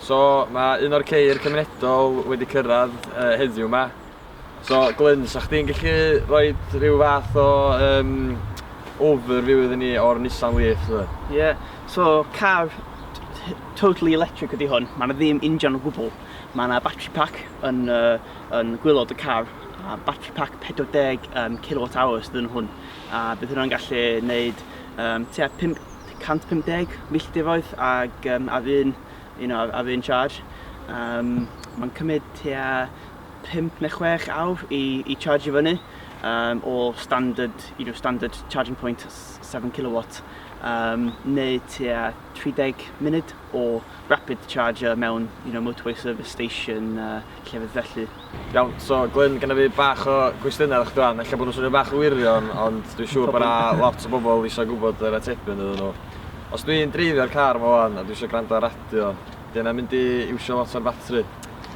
So mae un o'r ceir cymunedol wedi cyrraedd uh, heddiw yma. So Glyn, sa chdi'n gallu rhoi rhyw fath o um, overview iddyn ni o'r Nissan Leaf? Ie, yeah. so car totally electric ydy hwn, mae yna ddim injan o gwbl. Mae yna battery pack yn, uh, yn gwylod y car, a battery pack 40 um, kWh dyn hwn. A bydd hwnna'n gallu gwneud um, tua 5 150 milltiroedd ag um, ar un, you know, ar un charge. Um, mae'n cymryd tua 5 neu 6 awr i, i charge i fyny um, o standard, you know, standard charging point 7 kilowatt um, neu tua 30 munud o rapid charger mewn you know, motorway service station uh, llefydd felly. Iawn, so Glyn, gyda fi bach o gwestiynau ar chdi ella bod nhw'n swnio bach yn wirion, ond dwi'n siŵr bod yna lot o bobl eisiau gwybod yr atebion iddyn nhw. Os dwi'n dreifio'r car fo wan a dwi eisiau gwrando ar radio, di yna mynd i iwsio lot o'r batri?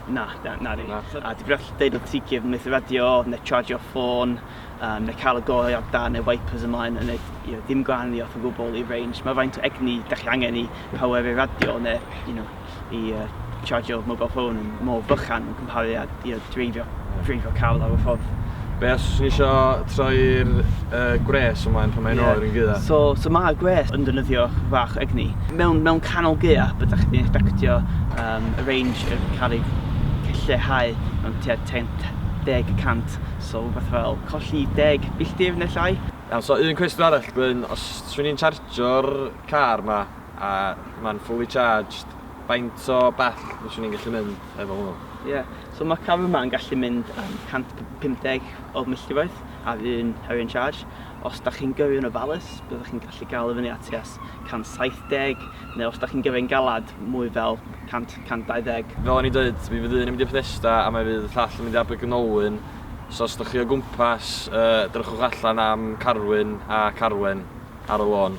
Na, na, na di. Na. A di brell deud o ti cif methu radio, neu charge o'r ffôn, um, neu cael y gorau ar dan neu wipers ymlaen, yn ei, you know, dim gwahaniaeth o gwbl i range. Mae faint o egni da chi angen i power i radio, neu, you know, i siarjio mobile phone yn mor fychan yn cymharu â dreifio, dreifio car lawr y ffordd. Be os fyswn i isio troi'r uh, gwres ymlaen pan mae'n yeah. oer yn gydda? So, so mae'r gwres yn dynyddio fach egni. Mewn, mewn canol gydda, byddwch chi'n expectio um, y range y cael ei lleihau mewn tua 10 cant, so rhywbeth fel colli 10 milltir neu llai. Iawn, so un cwestiwn arall, Gwyn, os swn i'n chargio'r car ma, A ma'n fully charged. Faint o bell fyswn i'n gallu mynd efo hwnnw? Ie, so ma' car yma yn gallu mynd am 150 o milltiroedd ar un ar un charge. Os da chi'n gyrru yn ofalus, byddwch chi'n gallu gael i fyny at tua 170, neu os da chi'n gyrru'n galad, mwy fel 100, 120. Fel o'n i'n dweud, mi fydd un yn mynd i Bethesda a mae fydd y llall yn mynd i Abergynolwyn, so os da chi o gwmpas, yy, drychwch allan am Carwyn a Carwen ar y lôn.